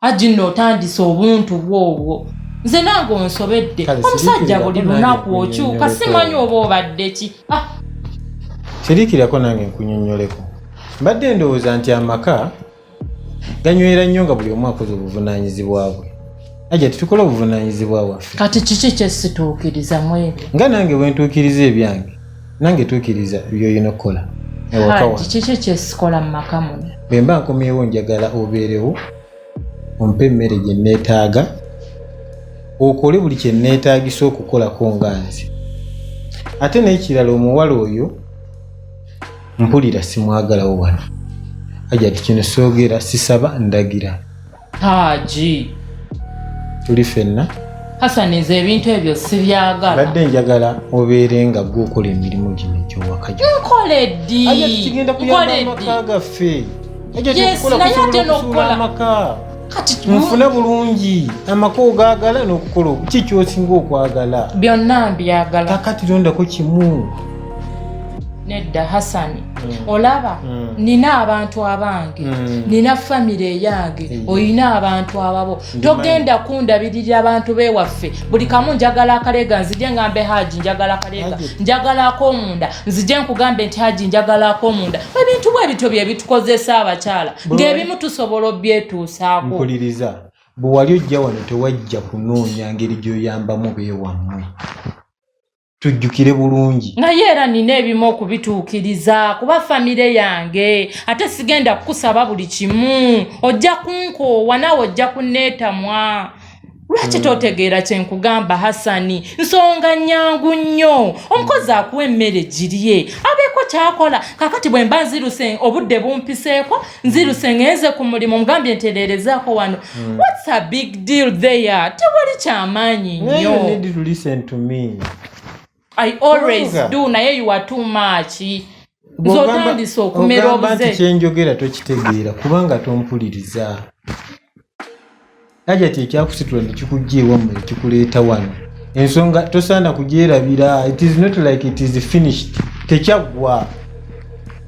aji nno otandise obuntu bwobwo nze nange onsobedde omusajja buli lunaku okyuka simanyi oba obadde ki ah! sirikirako nange nkunyonyoleko mbadde ndowooza nti amaka ganywera nnyo nga buli omu akoze obuvunanyizibwa bwe aja titukola obuvunanyizibwa bwaffe kati kiki kyesituukiriza mwebyo nga nange bwentuukiriza ebyange nange tuukiriza by'olina okukola kiki kyesikola mu maka muno bwe mba nkomyewo njagala obeerewo ompe emmere gye nneetaaga okole buli kye nneetaagisa okukolako nga nze ate n'ekirala omuwala oyo mpulira simwagalawo wano ajati kino soogera sisaba ndagira Haji. Tuli fenna. Hassan nze ebintu ebyo sibyagala. Badde njagala obeere nga gwe okola emirimu gino gy'owaka gyo. Nkole ddi? Aja tukigenda kuyamba amaka gaffe. Aja tukukola kusobola okusuula amaka. Nfune bulungi amaka ogaagala n'okukola ki kyosinga okwagala. Byonna mbyagala. Kakati londako kimu. Nedda Hassan. Mm. olaba mm. nina abantu abange mm. nina famire eyange olina abantu ababo togenda kundabirira abantu bewaffe buli kamu njagala akalega nzije ngambe haji njagala akalega njagala akomunda nzije nkugambe nti haji njagala akomunda ebintu bwe bityo byebitukozesa abakyala ngaebimu tusobola obyetuusaako mpuliriza bwewali ojja wano tewajja kunoonya ngeri gyoyambamu bewammwe tujjukire bulungi naye era nina ebimu okubituukiriza kuba famire yange ate sigenda kukusaba buli kimu ojja kunkoowa naawe ojja kunneetamwa lwaki hmm. totegeera kye nkugamba hasani nsonga nnyangu nnyo omukozi akuwa emmere girye abeeko kyakola kakati bwe mba nziruse obudde bumpiseeko nziruse ngenze ku mulimu mugambye ntereerezaako wano hmm. whats a big deal there tewali kyamaanyi nnyo i always do naye you are too much nze otandise okumera obuze kyenjogera tokitegeera kubanga tompuliriza hajati ekyakusitula nekikujja ewammwe ekikuleeta wano ensonga tosaana kugyerabira it is not like it is finished tekyaggwa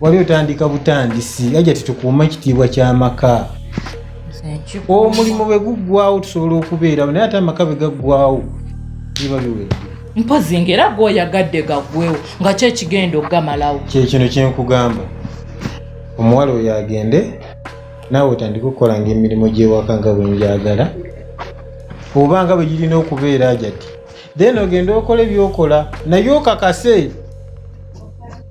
wali otandika butandisi hajati tukuuma ekitiibwa ky'amaka omulimu bwe guggwawo tusobola okubeerawo naye ate amaka bwe gaggwawo biba biwedde mpozi ngaera gweoyagadde gaggwewo nga kyo ekigenda okugamalawo kyekino kyenkugamba omuwala oyo agende naawe otandika okukolanga emirimu gy'ewaka nga bwe njagala oba nga bwe girina okubeera ajati then ogenda okola ebyokola naye okakase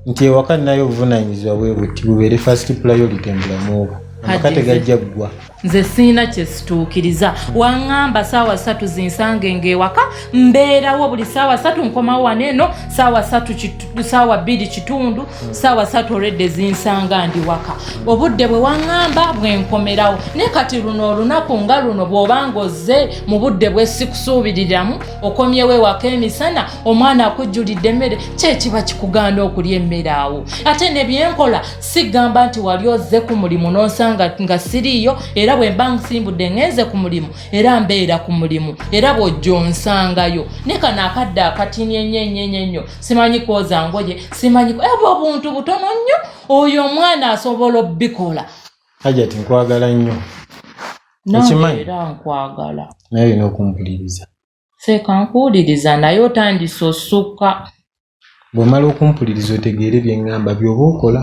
nti ewaka ninayo obuvunanyizibwa bwe buti bubeere first priority mu bulamu obwo amaka tegajja ggwa nze siina kyesituukiriza waŋŋamba saawa satu zinsange ng'ewaka mbeerawo buli saawa satu nkomawo wano eno saawa satu saawa bbiri kitundu hmm. saawa satu oredde zinsanga ndi waka obudde bwe waŋŋamba bwe nkomerawo naye kati luno olunaku nga luno bw'obanga ozze mu budde bwe sikusuubiriramu okomyewo ewaka emisana omwana akujjulidde emmere kyekiba kikugaana okulya emmere awo ate ne byenkola sigamba nti wali ozze ku mulimu n'onsanga nga siriiyo era bwe mba nsimbudde ŋenze ku mulimu era mbeera ku mulimu era bw'ojja onsangayo ne kano akadde akatini ennyo ennyo ennyo ennyo simanyi kwoza ngoye simanyi ebwo obuntu butono nnyo oyo omwana asobola obikola hajati nkwagala nnyo okimanyi era nkwagala naye olina okumpuliriza seeka nkuwuliriza naye otandise osukka bw'omala okumpuliriza otegeere bye ŋŋamba by'oba okola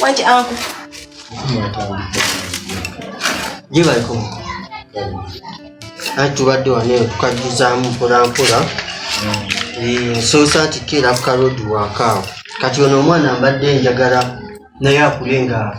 Wangi angu. Gye baliko. Anti tubadde wano eyo tukajjuzaamu mpolampola. Mm. Nsoosa nti keera ku kalodi wakaawo. Kati ono omwana mbadde njagala naye akule nga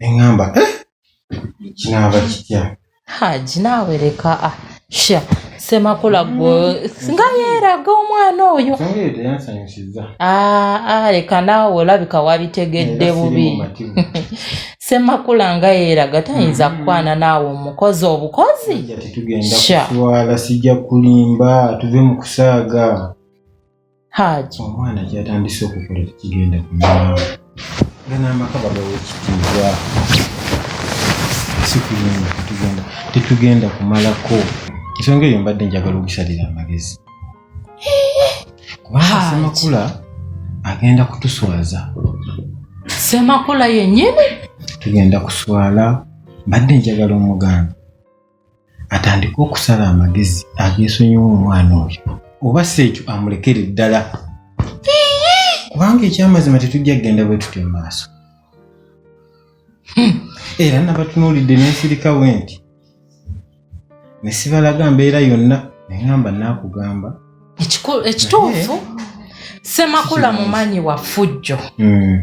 neŋamba eh, kinaava kitya haji naawe leka ah, sha semakula gwe nga yeeraga omwana oyo songa eyo teyansanyusizza Ah, ah, leka naawe olabika wabitegedde Era siri bubi mumativu. semakula nga yeeraga tayinza Mm. kukwana naawe omukozi obukozi Hajjati tugenda Sha. kuswala sijja kulimba tuve mu kusaaga Haji omwana kyatandise okukola tekigenda kumulaba nga n'amaka bagawa ekitiibwa si kuyinda tetugenda tetugenda kumalako ensonga eyo mbadde njagala okusalira amagezi kubanga semakula agenda kutuswaza semakula yennyini tugenda kuswala mbadde njagala omuganda atandike okusala amagezi ageesonyiwa omwana oyo oba si ekyo amulekere ddala kubanga ekyamazima tetujja kugenda bwe tutyo mu maaso hmm. era nabatunuulidde nensirikawo nti ne sibalaga mbeera yonna neŋamba naakugamba ekituufu semakula mumanyi wa fujjo hmm.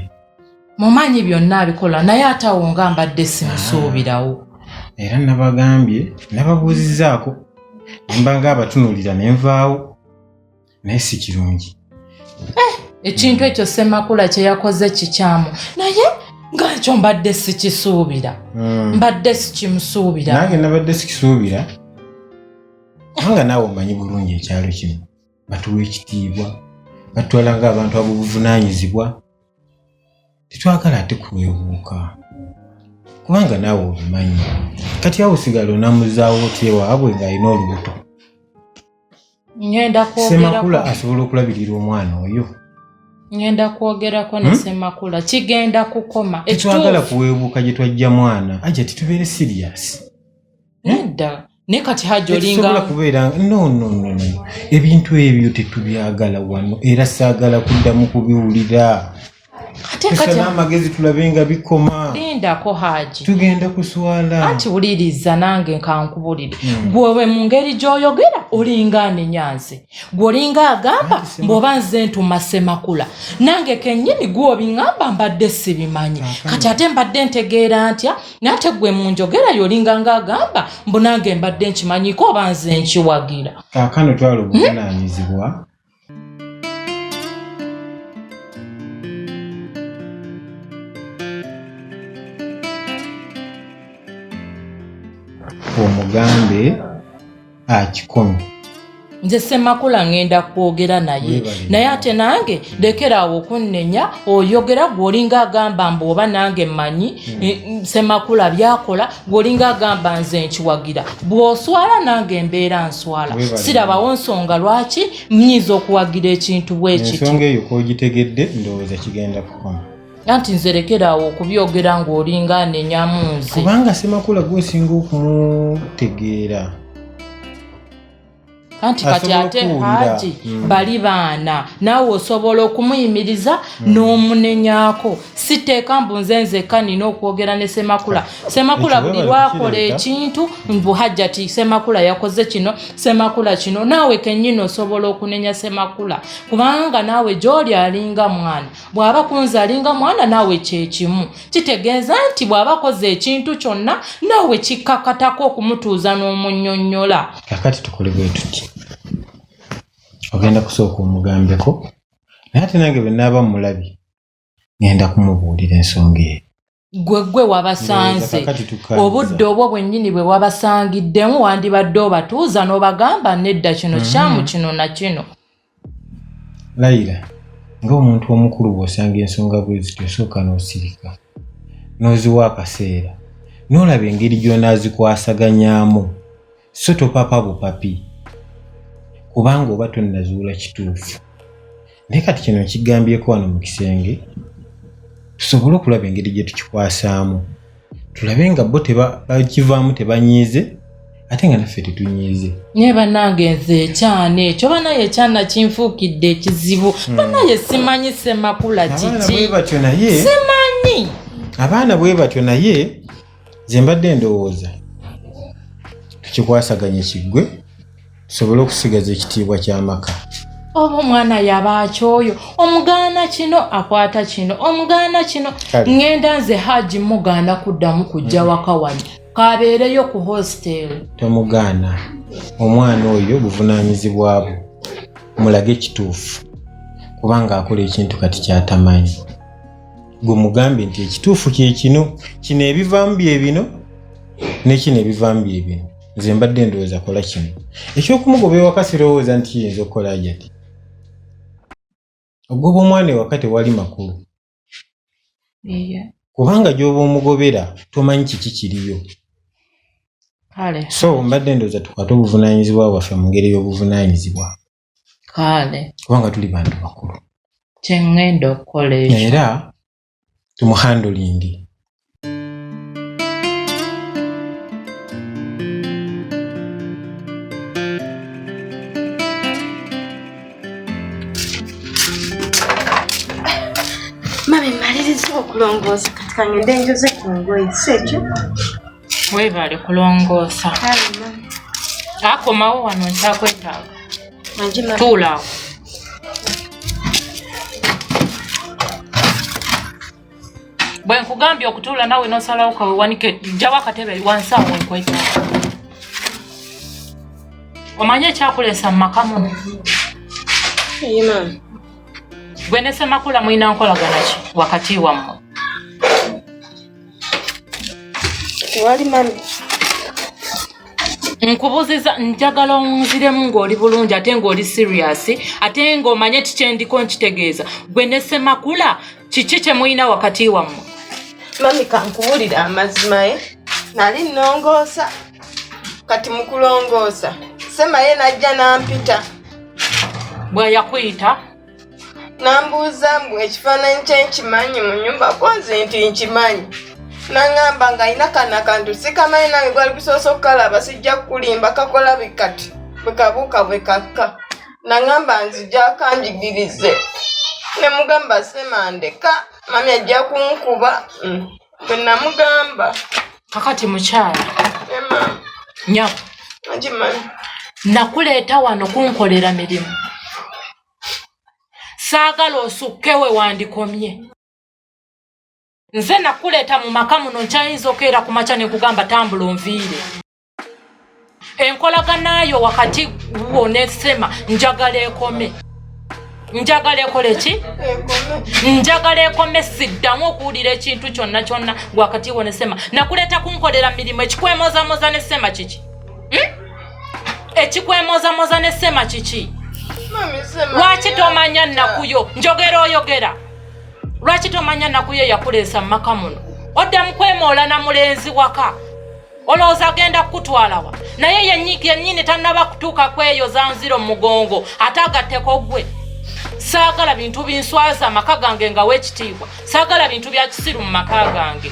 mumanyi byonna abikola naye atawo nga mbadde simusuubirawo ah, era nabagambye nababuuzizaako nembanga abatunuulira nenvaawo naye si kirungi eh, ekintu ekyo semakula kyeyakoze kikyamu naye nga ekyo mbadde sikisuubira hmm. mbadde sikimusuubira nange nabadde sikisuubira nga naawe omanyi bulungi ekyalo kino batuwa ekitiibwa batwala ngaabantu abobuvunanyizibwa tetwagala ate kuwebuuka kubanga naawe obimanyi kati awo sigala onamuzaawo otyewaabwe ng'alina olubuto ngenda semakula asobola okulabirira omwana oyo ngenda kwogerako ne hmm? semakula kigenda kukoma tetwagala kuweebuuka gye twajja mwana aja titubeere siriyasi nedda hmm? naye kati hajji olingasobola kubeera nonono ebintu ebyo tetubyagala wano era saagala kuddamu kubiwulira tusana amagezi tulabe nga bikoma lindako haaji tugenda kuswala anti wuliriza nange nkankubulire hmm. gwewe mu ngeri gy'oyogera olinga anenyanze gwe olinga agamba mbwoba nze ntuma semakula nange kennyini gwobiŋamba mbadde sibimanyi kati ate mbadde ntegeera ntya nate gwe munjogera yolinga nga agamba mbu nange mbadde nkimanyiko oba nze nkiwagira kakano twala obuvunanyizibwa hmm? omugambe akikono ah, nze semakula ngenda kwogera naye naye ate nange lekeraawo okunnenya oyogera gwolinga agamba mbu oba nange mmanyi hmm. eh, mm, semakula byakola gwolinga agamba nze nkiwagira bw'oswala nange mbeera nswala sirabawo nsonga lwaki mnyinza okuwagira ekintu bwekityo ensonga eyo kwogitegedde ndowooza kigenda kukoma anti nze lekeraawo okubyogera ng'olinga anenyamu nze kubanga semakula gwosinga okumutegeera anti kati ate haji hmm. bali baana naawe osobola okumuyimiriza hmm. n'omunenyako siteeka mbu nze nzekka nina okwogera ne semakula ah, semakula buli lwakola ekintu mbu hajjati semakula yakoze kino semakula kino naawe kennyini osobola okunenya semakula kubanga naawe gy'oli alinga mwana bw'aba kunze alinga mwana naawe kyekimu kitegeeza nti bw'aba akoze ekintu kyonna naawe kikkakatako okumutuuza n'omunyonyola kakati tukole bwe tuti ogenda kusooka omugambeko naye ate nange bwe naaba mmulabye ngenda kumubuulira ensonga eyo gwe gwe wabasanze obudde obwo bwennyini bwe wabasangiddemu wandibadde obatuuza n'obagamba nedda kino mhm. kyamu kino na kino layira ng'omuntu omukulu bw'osanga ensonga bwe zityo osooka n'osirika n'oziwa akaseera n'olaba engeri gy'onaazikwasaganyaamu so topapa bupapi kubanga oba tonnazuula kituufu naye kati kino nkigambyeko wano mu kisenge tusobole okulaba engeri gye tukikwasaamu tulabe nga bo bakivaamu tebanyiize ate nga naffe tetunyiize naye banange nze ekyana ekyo banaye ekyana kinfuukidde ekizibu hmm. banaye simanyi semakula kiki simanyi abaana bwe batyo naye nze mbadde ndowooza tukikwasaganye kiggwe tusobole okusigaza ekitiibwa ky'amaka oba omwana yaba akyoyo omugaana kino akwata kino omugaana kino ŋŋenda nze haji mugaana kuddamu kujja mm. waka wano kabeereyo ku hostel tomugaana omwana oyo buvunaanyizibwa bwo mulage ekituufu kubanga akola ekintu kati kyatamanyi gwe mugambe nti ekituufu kyekino kino ebivaamu byebino nekino ebivaamu byebino nze mbadde ndowooza kola kino ekyokumugoba ewaka sirowooza nti kiyinza okukola ajati ogoba omwana ewaka tewali makulu kubanga gyoba omugobera tomanyi kiki kiriyo so mbadde ndowooza tukwate obuvunanyizibwa bwaffe mu ngeri y'obuvunanyizibwa kale kubanga tuli bantu bakulu kyengenda okukola ekyo era tumuhandulingi mami maliriza okulongoosa kati kangende njoze ku ngoyi si ekyo Weebale kulongoosa. Akomawo wano nkyakwetaaga. Tuula awo. Bwe nkugambye okutuula nawe n'osalawo kawe wanike jjawo akatebe wansi awo wenkwetaaga. Omanyi ekyakuleesa mu maka muno? Gwe ne Ssemakula mulina nkolagana ki wakati wammwe? tewali mami nkubuziza njagala onziremu ng'oli bulungi ate ng'oli serious ate ng'omanye kikyendiko nkitegeeza gwe ne semakula kiki kye mulina wakati wammwe mami kankubulira amazima ye eh? nali nnongoosa kati mukulongoosa semaye najja nampita bweyakuyita nambuuza mbu ekifaananyi kye nkimanyi mu nyumba konze nti nkimanyi nangamba nga alina kana kantu sikamanyi nange gwali kusoosa okukalaba sijja kukulimba kakola bikati bwekabuuka bwekakka nangamba nzija kanjigirize nemugamba semandeka mami ajja kunkuba mm. bwe namugamba kakati mukyala nyabo nakuleeta wano kunkolera mirimu saagala osukke we wandikomye nze nakuleeta mu maka muno nkyayinza okeera ku makya ne nkugamba tambula onviire enkolagana yo wakati wo ne sema njagala ekome njagala ekole ki njagala ekome siddamu okuwulira ekintu kyonna kyonna wakati wo ne sema nakuleeta kunkolera mirimu ekikwemozamoza ne sema kiki hmm? ekikwemozamoza ne sema kiki lwaki tomanya nakuyo njogera oyogera lwaki tomanya nakuyo yakuleesa mu maka muno oddamu kwemoola na mulenzi waka olowooza agenda kukutwalawa naye yennyini tannaba kutuuka kweyo zanziro mumugongo ate agatteko gwe saagala bintu binswaza amaka gange nga wekitiibwa saagala bintu bya kisiru mu maka gange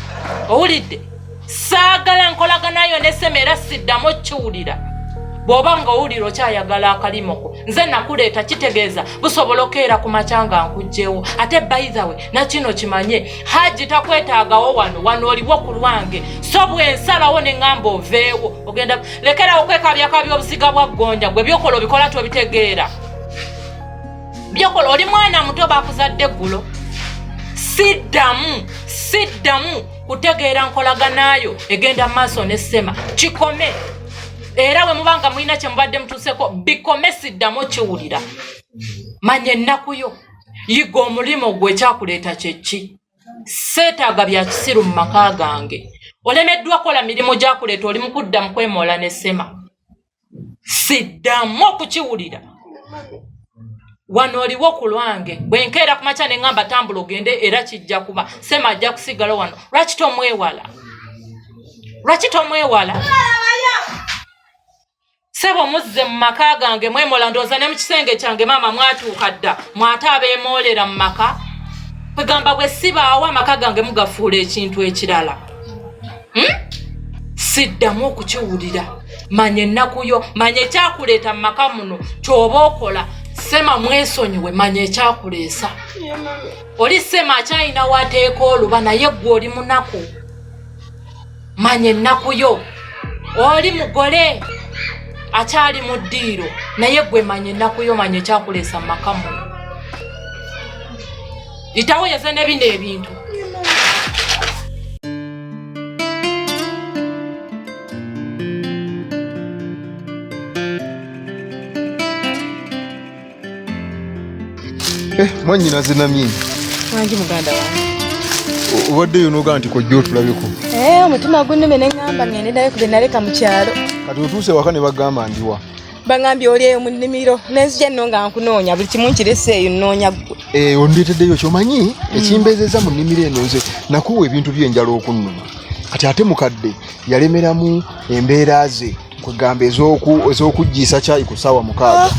owulidde saagala nkolaganayo nesema era siddamu okiwulira bw'oba nga owulira okyayagala akalimoko nze nakuleeta kitegeeza busobola okeera ku makya nga nkugjewo ate baithawe nakino kimanye haji takwetaagawo wano wano oliwo ku lwange so bwensalawo neŋamba oveewo ogenda lekerawo kwekabyakabya obuziga bwa ggonja gwe byokola obikola tobitegeera byokola oli mwana muto bakuzadde eggulo siddamu siddamu kutegeera nkolaganayo egenda maaso ne sema kikome era bwe muba nga mulina kye mubadde mutuuseko bikome siddamu kiwulira manya ennaku yo yiga omulimu gwe ekyakuleeta kyeki seetaaga bya kisiru mu maka gange olemeddwa kola mirimu gyakuleeta oli mukudda mu kwemoola ne sema siddamu okukiwulira wano oliwo ku lwange bwe nkeera ku makya ne ŋŋamba tambula ogende era kijja kuba sema ajja kusigala wano lwaki tomwewala lwaki tomwewala sebo muzze mu maka gange mwemola ndooza ne mu kisenge kyange maama mwatuuka dda mwate abeemoolera mu maka kwegamba bwe sibaawo amaka gange mugafuula ekintu ekirala hmm? siddamu okukiwulira manya ennaku yo manya ekyakuleeta mu maka muno kyoba okola sema mwesonyiwe manya ekyakuleesa oli sema akyalina wateeka oluba naye ggwe oli munaku manya ennaku yo oli mugole akyali mu ddiiro naye gwe manya ennaku yo manya ekyakuleesa mu maka muno itawo yeze ne bino ebintu Eh, mwannyinaze namye wangi muganda wange obaddeyo nogaa nti kojja otulabeko eh, omutima gunume ne ŋŋamba ŋende naye kube naleka mu kyalo kati otuuse waka ne bagamba ndiwa baŋambye oli eyo mu nnimiro nenzija nno nga nkunoonya buli kimu nkirese eyo nnoonya ggwe eh, ondeeteddeyo kyomanyi mm. ekimbeezeza mu nnimiro eno nze nakuwa ebintu byenjala okunnuma kati ate mukadde yalemeramu embeera ze kwegamba ez'okuggiisa kyayi ku ssaawa mukaaga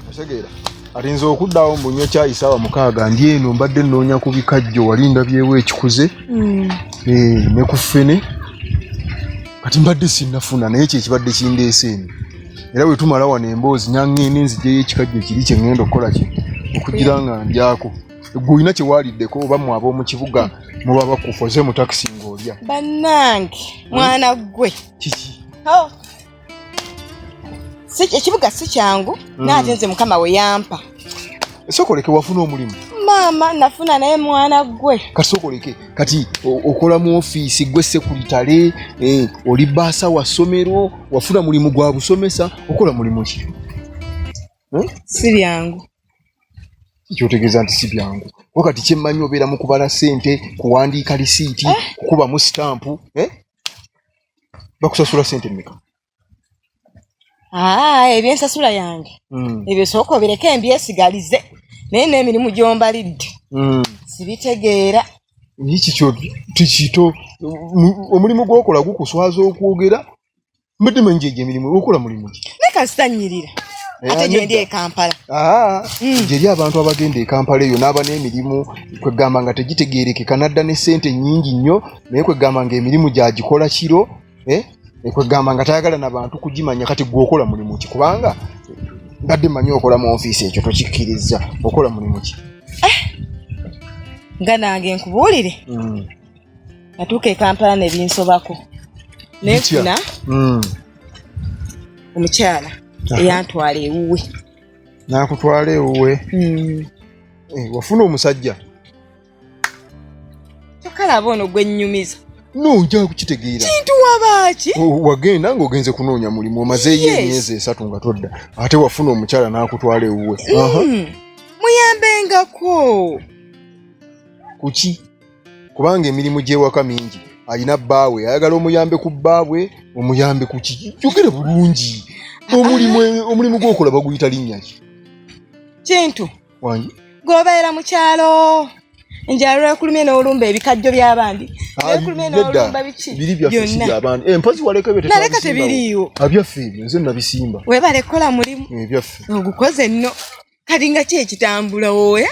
otegeera ati nze okuddawo mbunywa kyayi ssaawa mukaaga ndi eno mbadde nnoonya ku bikajjo wali ndabyewo ekikuze hmm. eh, ne ku ffene kati mbadde sinnafuna naye kyekibadde kindeese eno era bwe tumala wano emboozi nangende nzijeyo ekikajjo kiri kye ŋŋenda okukola ki okugira nga ndyako gwe olina kye waaliddeko oba mwe ab'omu kibuga muba bakufoze mu takisi ng'olya bannange mwana ggwe kiki oh. ekibuga si kyangu mm. naate nze mukama we yampa sokoleke wafuna omulimu maama nafuna naye mwana gwe kati sokoleke kati okola mu ofiisi gwe sekuritale eh, oli baasa wa ssomero wafuna mulimu gwa busomesa okola mulimu ki hmm? si byangu kyotegeeza nti si byangu wakati kyemmanyi obeera mu kubala ssente kuwandiika lisiiti eh? kukubamu sitampu eh? bakusasula sente mmeka ah, ebyensasula yange hmm. ebyo sooka obireke embyesigalize naye n'emirimu gyombalidde hmm. sibitegeera ekikyo tikito omulimu gwokola gukuswaza okwogera mbadde manyi gyegyo emirimu okola mulimu ki naye kasitanyirira eh, ate gyendi e kampala ah, hmm. gyeri abantu abagenda e kampala eyo n'aba n'emirimu kwegamba nga tegitegeerekeka nadda ne ssente nnyingi nnyo naye kwegamba nga emirimu gyagikola kiro eh, eh, kwegamba nga tayagala na bantu kugimanya kati gwe okola mulimu ki kubanga mbadde manyi okola mu ofiisi ekyo tokikkiriza okola mulimu ki nga nange nkubuulire hmm. natuuka e kampala nebinsobako nefuna hmm. omukyala eyantwala ewuwe nakutwala ewuwe hmm. eh, wafuna omusajja tokalaba ono gwenyumiza nojja kukitegeera kintu wabaaki oh, wagenda ng'ogenze kunoonya mulimu omazeeyo emyezi esatu nga todda ate wafuna omukyala n'akutwala ewuwe hmm. muyambengako kuki kubanga emirimu gy'ewaka mingi alina bbaawe ayagala omuyambe ku bbaabwe omuyambe ku kiki yogera bulungi omulimu omulimu gw'okola baguyita linnya ki kintu wangi gwobeera mu kyalo nja lwekulumye n'olumba ebikajjo by'abandi ah, lwekulumye n'olumba biki byonna eh, mpozi walekabnaleka tebiriiwo abyaffe ah, ebyo nze nabisimba webale kukola mulimu ebyaffe eh, ogukoze nno kati nga ki ekitambula woya